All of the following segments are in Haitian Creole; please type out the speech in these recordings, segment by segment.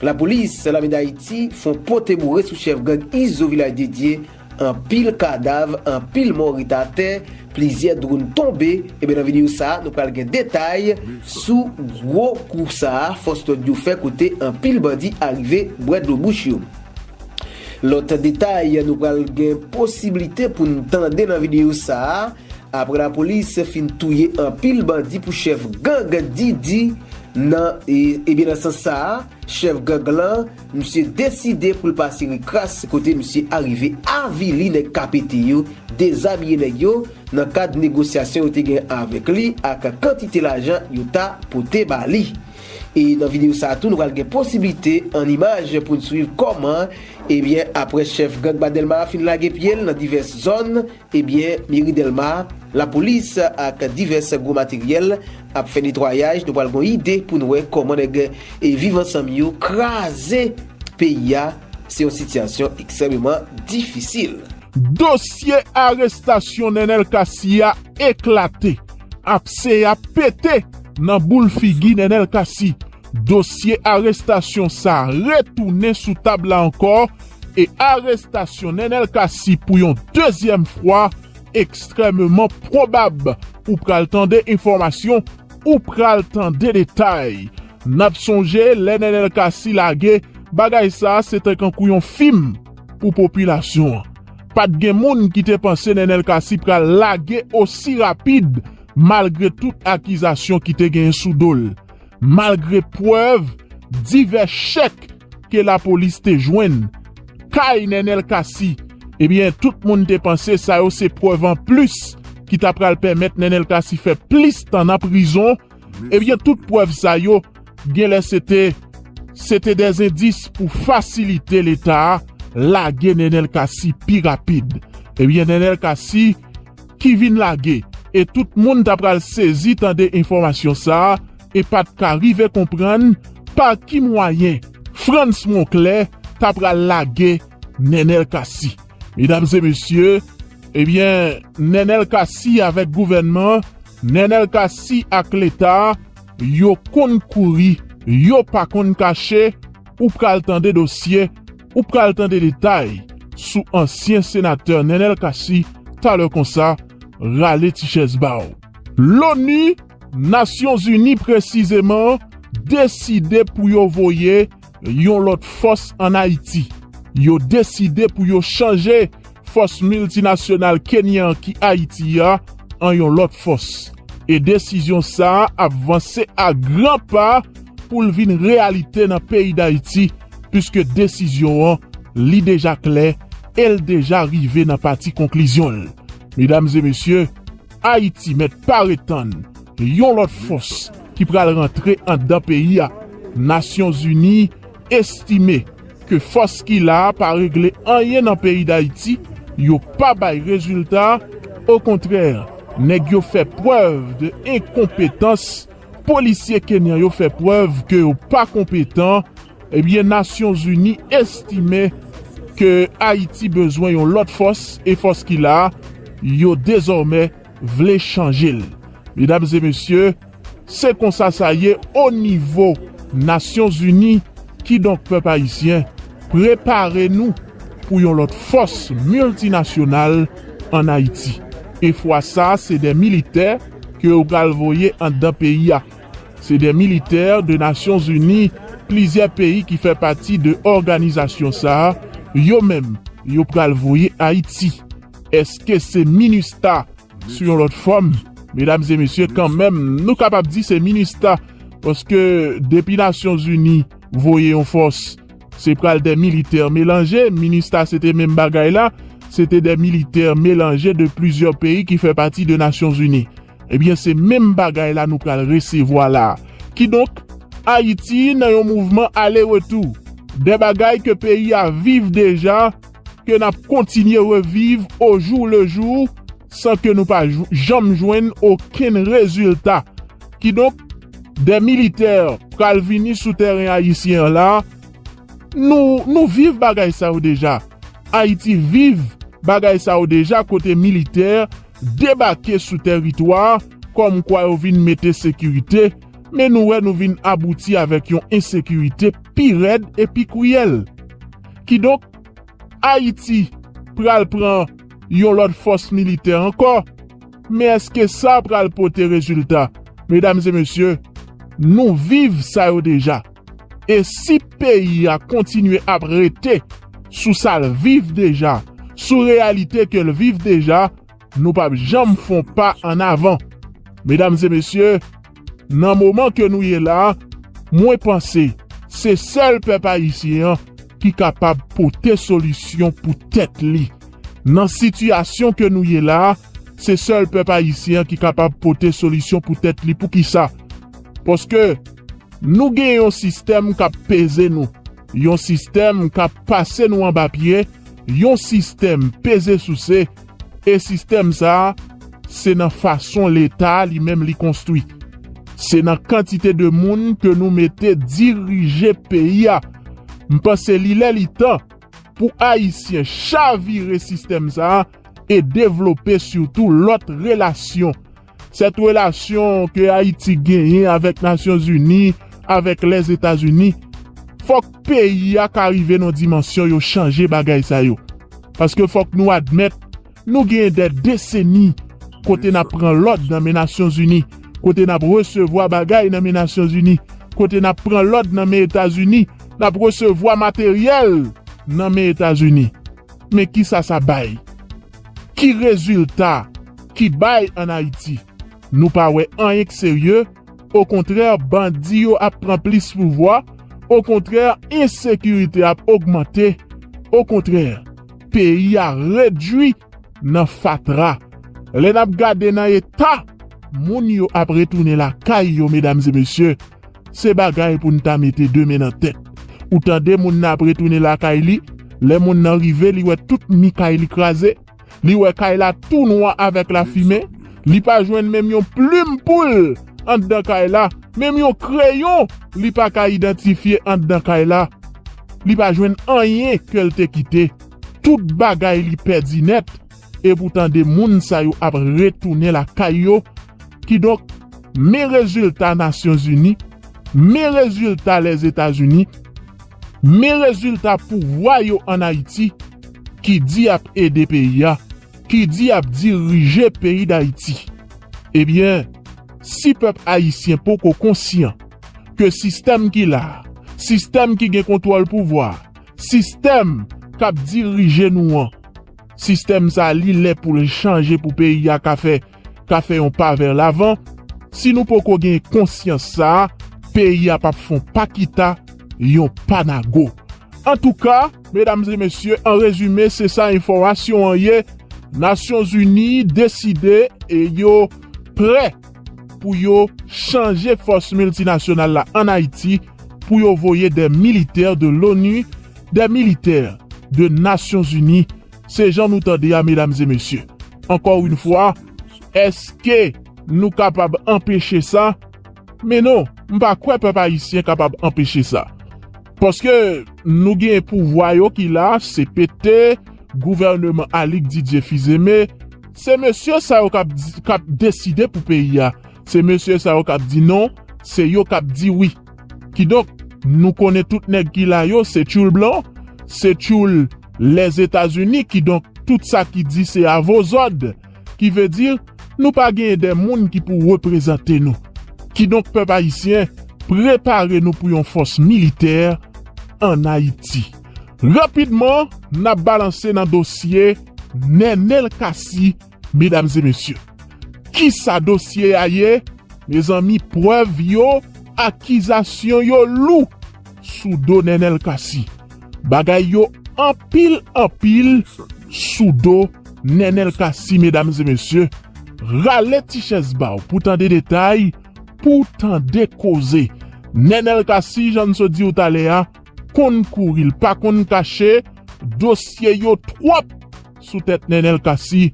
Lapolis lame dayiti fon pote boure sou chèf gang izo vilaj dedye anpil kadav anpil mò ret atè plizyè dronn tonbe ebyen nan video sa nou pral gen detay sou gwo kou sa fòs lòd yo fè kote anpil bandi arive bwè dlo bouch yo lòt detay nou pral gen posiblite poun tande nan video sa. Aprè lapolis fin touye anpil bandi pou chèf gang Didi nan ebyen nan sans sa a chèf gang lan misye deside pou l pase rikras kote misye arive avili nèg KPT yo, dezabiye nèg yo nan kad negosyasyon yo te gen avèk li ak kantite lajan yo ta pote ba li. E nan videyo sa a tou nou pral gen posiblite an imaj pou n swiv kòman ebyen aprè chèf gang ba Dèlma a fin lage pye l nan divès zòn Ebyen meri delma, lapolis ak divès gwo materyèl ap fè netwayaj nou pral gon ide poun wè kòman nèg viv ansanm yo kraze peyi a se yon sitiyasyon ekstrèmeman difisil. Dosye arestasyon Nènèl Kasi a eklate, apse a pete nan boul figi Nènèl Kasi Dosye arestasyon sa retounen sou tab la ankò e arestasyon Nenel Cassy pou yon dezyèm fwa ekstrèmeman pwobab. Ou pral tande enfòmasyon, ou pral tande detay. N ap sonje lè Nenel Cassy lage bagay sa se te kankou yon fim pou popilasyon an. Pa t gen moun ki te panse Nenel Cassy pral lage osi rapid malgre tout akizasyon ki te genyen sou do l. malgre prèv divès chèk ke lapolis te jwenn kay Nenel Cassy ebyen tout moun te panse sa yo se prèv an plis ki ta pral pèmèt Nenel Cassy fè plis tan nan prizon ebyen tout prèv sa yo genlè se te se te dè zendis pou fasilite leta lage Nenel Cassy pi rapid ebyen Nenel Cassy. ki vin lage e tout moun ta pral sezi tande enfòmasyon sa e pa t ka rive konprann pa ki mwayen Frantz Monclè ta pral lage Nènèl Cassy. Medam e mesye, ebyen Nènèl Cassy avèk gouvènman, Nènèl Cassy ak Leta, yo konn kouri, yo pa konn kache, ou pral tande dosye. Ou pral tande detay sou ansyen senatè Nenel Cassy talè konsa, rale ti chèz ba w. Loni, Nasyon Zini presizeman, deside pou yo voye yon lòt fòs an Ayiti. Yo deside pou yo chanje fòs miltinasyonal Kenyan ki Ayiti a an yon lòt fòs, e desizyon sa ap vanse a gran pa pou l vin reyalite nan peyi Dayiti, puiske desizyon an li deja klè e l deja rive nan pati konklizyon l. Medam e mesye, Ayiti mèt pare tann yon lòt fòs ki pral rantre anndan peyi a, Nasyonzini, estime ke fòs ki la a pa regle anyen nan peyi Dayiti, yo pa bay rezilta, okontrè nèg yo fè prèv de enkonpetans, polisye kenyan yo fè prèv ke yo pa konpetan, ebyen Nasyon Zini estime ke Ayiti bezwen yon lòt fòs e fòs ki la a yo dezòmè vle chanje l. Medam e mesye, se konsa sa ye o nivo Nasyon Zini, kidonk pèp ayisyen, prepare nou pou yon lòt fòs miltinasyonal an Ayiti. E fwa sa se dè militè ke yo pral voye anndan peyi a. Se dè militè de Nasyon Zini, plizyè peyi ki fè pati de òganizasyon sa, yo menm yo pral voye Ayiti. Eske se minustha sou yon lòt fòm? Medam e mesye kanmenm nou kapab di se minustha paske depi nasyon zini voye yon fòs se pral de militè melanje, minustha se te menm bagay la se te de militè melanje de plizyè peyi ki fè pati de nasyon zini ebyen se menm bagay la nou pral resevwa la kidonk ayiti nan yon mouvman ale retou de bagay ke peyi a viv deja. ke n ap kontinye reviv o jou le jou san ke nou pa janm jwenn okenn rezilta. Kidonk, dè militè pral vini sou tèren ayisyen an la, nou, nou viv bagay sa yo deja. Ayiti viv bagay sa yo deja kote militè debake sou tèritwa kòmkwa yo vin mete sekirite. Men nou wè nou vin abouti avèk yon ensekirite pi rèd e pi kriyèl. Kidonk, Ayiti pral pran yon lòt fòs militè ankò, men èske sa pral pote rezilta? Medam e mesye, nou viv sa yo deja. E si peyi a kontinye ap rete sou sa l viv deja, sou reyalite ke l viv deja, Nou pap janm fon pa an avan. Medam e mesye, nan moman ke nou ye la, mwen panse se sèl pèp ayisyen an ki kapab pote solisyon pou tèt li. Nan sitiyasyon ke nou ye la, se sèl pèp ayisyen an ki kapab pote solisyon pou tèt li. Poukisa? Paske nou gen yon sistèm k ap peze nou, yon sistèm k ap pase nou anba pye, yon sistèm peze souse, E sistèm sa a, se nan fason Leta a li menm li konstwi. Se nan kantite de moun ke nou mete dirije peyi a. M panse li lè li tan pou Ayisyen chavire sistèm sa a e devlope sitou lòt relasyon Sèt relasyon ke Ayiti genyen avèk Nasyon Zini, avèk Lèzetazini, fòk peyi a ka rive nan dimansyon yo chanje bagay sa yo. Paske fòk nou admèt, nou genyen dè deseni kote n ap pran lòd nan men Nasyon Zini, kote n ap resevwa bagay nan men Nasyon Zini, kote n ap pran lòd nan men Etazini, n ap resevwa materyèl nan men Etazini. Men kisa sa bay? Ki rezilta ki bay an Ayiti? Nou pa wè anyen k serye, okontrè bandi yo ap pran plis pouvwa, okontrè ensekirite ap ogmante, okontrè peyi a redwi nan fatra. Lè nap gade nan eta moun yo ap retounen lakay yo medam e mesye, Se bagay pou n ta mete de men nan tèt. Ou tande moun nan ap retounen lakay li, lè moun nan rive li wè tout mi kay li kraze, li wè kay la tou nwa avèk lafimen, li pa jwenn menm yon plim poul anndan kay la, menm yon kreyon li pa ka idantifye anndan kay la, li pa jwenn anyen ke l te kite, tout bagay li pèdi nèt. e pou tande moun sa yo ap retounen lakay yo, kidonk men rezilta Nasyonzini, men rezilta Lèzetazini, men rezilta pouvwa yo an Ayiti ki di yap ede peyi a, ki di yap dirije peyi Dayiti. Ebyen, si pèp Ayisyen poko konsyan ke sistèm ki la, sistèm ki gen kontwòl pouvwa, sistèm kap dirije nou an, Sistèm sa li lè poul chanje pou peyi a ka fè ka fè yon pa vè lavan, si nou poko gen konsyans sa peyi a pap fon pa kita yon pa nago. Antouka medam e mesye an rezime se sa enfòmasyon an ye nasyon zini deside e yo prè pou yo chanje fòs miltinasyonal la an ayiti pou yo voye dè militè de loni Des militaires de nations unies se jan nou tande a mesdames et messieurs. Encore une fois eske nou kapab anpeche sa? Men non, m pa kwè pèp ayisyen kapab anpeche sa. Paske nou gen pouvwa yo ki la, cpt, gouvèneman Alix Didier Fils-Aimé, se mesye sa yo kap deside pou peyi a, se mesye sa yo kap di non, se yo kap di wi. Kidonk, nou konnen tout nèg ki la yo se tyoul blan, se tyoul Lèzetazini, kidonk tout sa ki di se avozòd, ki ve di nou pa genyen de moun ki pou reprezante nou. Kidonk pèp ayisyen, prepare nou pou yon fòs militè an Ayiti. Rapidman, n ap balanse nan dosye Nenel Cassy. Medam e mesye, kisa dosye a ye mezanmi prèv yo akizasyon yo lou sou do Nenel Cassy bagay yo anpil anpil sou do Nenel Cassy medam e mesye rale ti chèz baw pou tande detay pou tande koze Nenel Cassy jan n sot diw talè a konn kouri l pa konn kache dosye yo twòp. sou tèt Nenel Cassy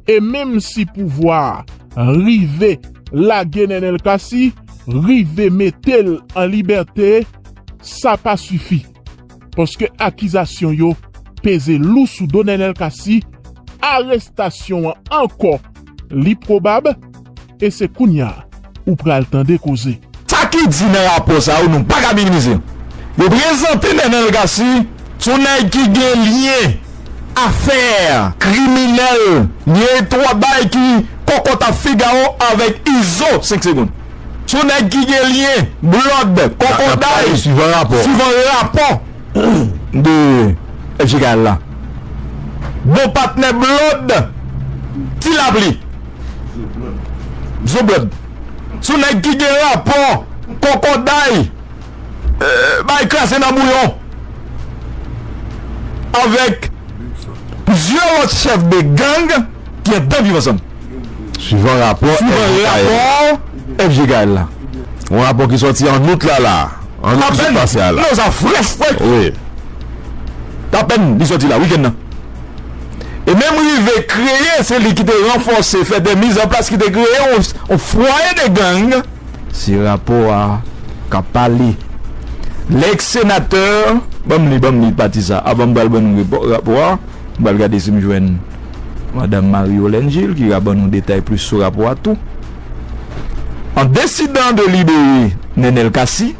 e menm si pouvwa a rive lage Nenel Cassy, rive mete l an libète, sa pa sifi. Paske akizasyon yo peze lou sou do Nenel Cassy, arestasyon an ankò li pwobab, E se kounya ou pral tande koze. Sa ki di nan rapò sa yo nou pa ka minimize. Yo prezante Nenel Cassy sou nèg ki gen lyen, afè, kriminèl, lyen etwabay ki kòkòt a Figaro avèk Izo 5 segonn. Sou nèg ki gen lyen, blòd, kòkòday, suivan rapò de FJKL la. Bon patnè blòd, ti lapli. Zoblod. Sou nèg ki gen rapò kokoday bay kraze nan bouyon avèk plizyè lòt chèf de gang ki anndan Viv Ansanm. Suivan rapò FG Gaël la. Yon rapò ki sòti an out la la. An out ki sot pase a la. Apèn li sòti la wikenn nan. e menm rive kreye, se li ki te ranfòse, fè dè miz an plas ki te kreye yon fwaye de gang. Se rapò a k ap pale. Lèk senatè, ban m li, ban m li pati sa avan m pral ban nou rapò a, m pral gade si m jwenn madam Marie Yolène Gilles ki ka ban nou detay plis sou rapò a tou. An desidan de libere Nenel Cassy,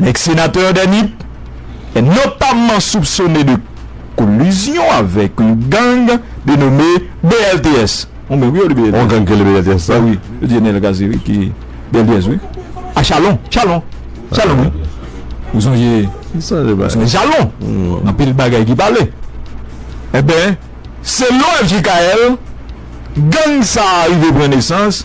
Nèg senatè dè Nip, e notamman soupsone de kolizyon avèk yon gang de nome BLTS, ou menm wi yo li BLTS, yon gang ki rele BLTS sa wi, yo di e Nènèl Kaze wi ki BLTS wi, a Chalon, Chalon, Chalon wi, ou sonje, m sonje bagay, ou sonje Chalon, anpil bagay ki pale, e ben selon FJKL, gang sa a rive pran nesans.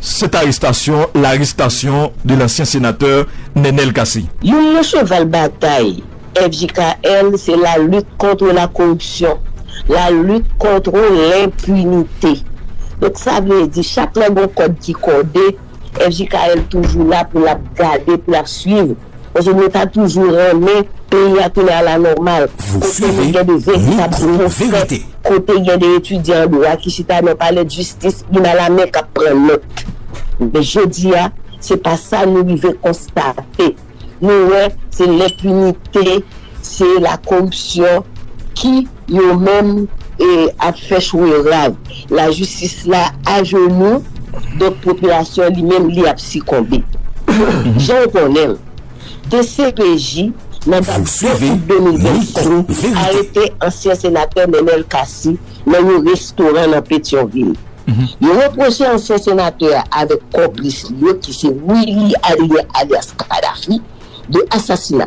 Cette arrestation l'arrestation de l'ancien sénateur Nenel Cassy. Youn nan cheval batay FJKL se la lutte contre la corruption, la lutte contre l'impunité. Donk sa vle di chak lè gon kòd ki kòde, FJKL toujou la pou l ap gade, pou l ap swiv Paske nou ta toujou renmen peyi a tounen ala nòmal, kote nou gen de veritab pwofè, kote gen de etidyan an dwa ki chita nan palè dijistis youn a la men k ap pran nòt. Men jodi a, se pa sa nou rive konstate. Nou wè se lenpinite Se la koripsyon ki yo menm ap fè chwe rad. La jistis la ajenou, donk popilasyon li menm li ap sikonbe. Jan w konnen l, dcpj nan dat 2 out 2025 arete ansyen senatè Nenel Cassy nan yon restoran nan Petyonvil. Yo repwoche ansyen senatè a avèk konplis li yo ki se Willy Adrien alyas Kadhafi de asasina.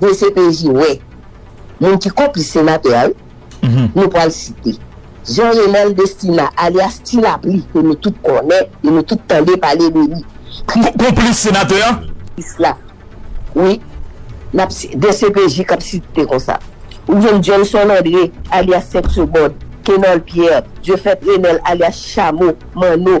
Dcpj wè Moun ki konplis senatè a wi Nou pwal site Jean Renel Destina alyas ti lapli ke nou tout konnen e nou tout tande pale de li Kris Konplis senatè a? Kris la wi Nap si dcpj kap site konsa Ou jwenn Johnson Andre alyas 5 segond Kenol Pierre Dieufait Renel alyas chamo Manno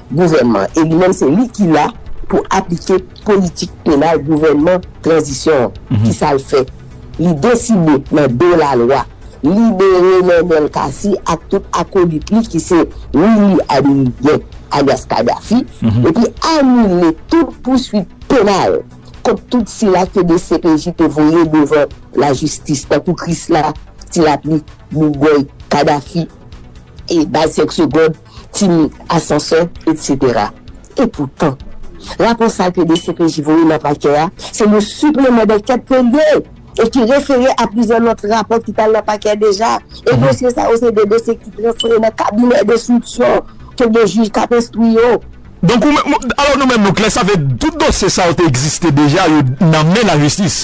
gouvènman e li menm se li ki la pou aplike politik penal gouvènman tranzisyon an. Kisa l fè? Li deside nan do lalwa libere Nenel Cassy ak tout akolit li ki se Willy Adeliguen alyas Kadhafi epi anile tout pouswit penal kont tout sila ke dcpj te voye devan lajistis tankou Krisla, Tilapli, Bougòy, Kadhafi e Baz 5 segond. timoun, asansè, etc. Epoutan, rapò sa ke dcpj voye nan pakè a, se yon sipleman dankèt ke l ye e ki refere a plizyè lòt rapò ki t al nan pakè deja. E dosye sa yo se de dosye ki transfere nan kabinè denstriksyon ke gen jij k ap enstwi yo. Donk ou menm, alò nou menm nou klè, sa vle di tout dosye sa yo te egziste deja, yo nan men lajistis.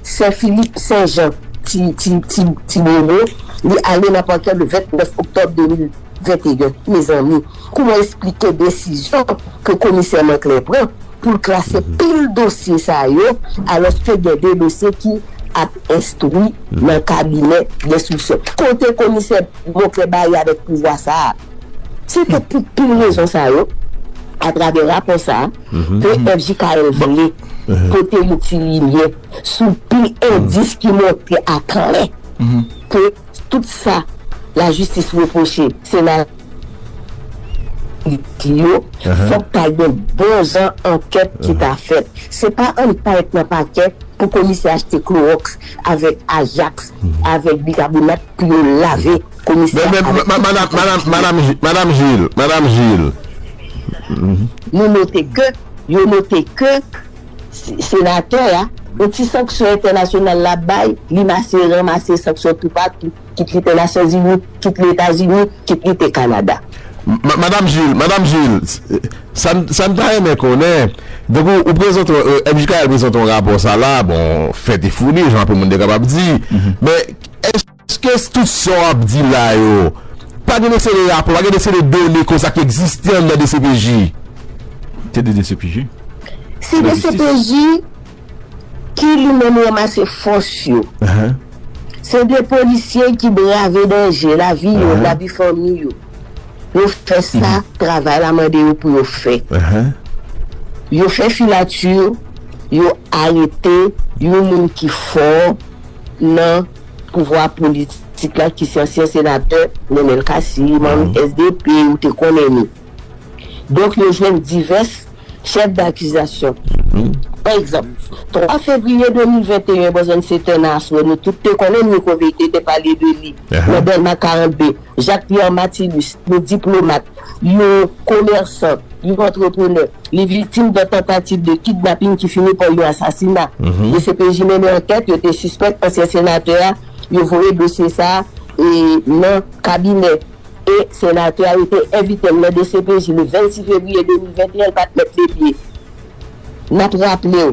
Sè Philippe Saint Jean Ti Bolo li ale nan pakè le 29 oktòb 2021 mezanmi kouman esplike desizyon ke komisè Manclin pran pou l klase pil dosye sa yo alòske gen 2 dosye ki ap enstwi nan kabinè denstriksyon kote komisè Monclin baye avèk pouvwa sa a se te pou pil rezon sa yo atravè rapò sa a. PFJKL vle pote yon ti limyè sou pil endis ki montre aklè ke tout sa lajistis repwoche sena Ayiti yo, fòk ta gen bon jan ankèt ki ta fèt. Se pa annik ta ret nan pakè pou komisè achte klowòks avèk ajaks avèk bikabonat pou yo lave. Komisè a avèk tout ekip li ap jwe. Madam Gilles, Madam Gilles. Nou note ke, yo note ke Senatè a, yon ti sanksyon entènasyonal l ap bay, li mase ranmase sanksyon toupatou, kit li te Nasyonzini, kit li Etazini, kit li te Kanada. Madam Gilles, Madam Gilles, sa n ta renmen konnen, donk ou prezante, MJKL prezante yon rapò sa la, bon, fèt e founi, jan anpil moun te kapab di, men, èske. Ske tout sa w ap di la yo, pa gen de seri rapò, pa gen de seri done konsa ki egziste anndan dcpj? Se de dcpj. Se dcpj ki li menm ranmase fòs yo. Se de polisye ki brave danje, lavi yo, lavi fanmi yo. Yo fè sa travay la mande yo pou yo fè. Yo fè filature, yo arete yon moun ki fò nan. Pouvwa politik la ki se ansyen senatè Nenel Cassy, manm SDP, ou te konnen li. Donk yo jwenn divès chèf dakizasyon. Pa egzanp, 3 fevriye 2021, bòzònn se tè nas wè nou tout te konnen Nico Vete te pale de li nan Dèlma 42. Jacques Pierre Mathilus, yon diplomat, yon komèsan, yon antreprenè, li viktim de tantativ de kidnaping ki fini pa yon asasina. Dcpj mennen ankèt, yo te sispèk ansyen senatè a, yo voye dosye sa a nan kabinè e senatè a, yo te envite l nan dcpj le 26 fevriye 2021, l pa t mèt le pye. N ap raple w.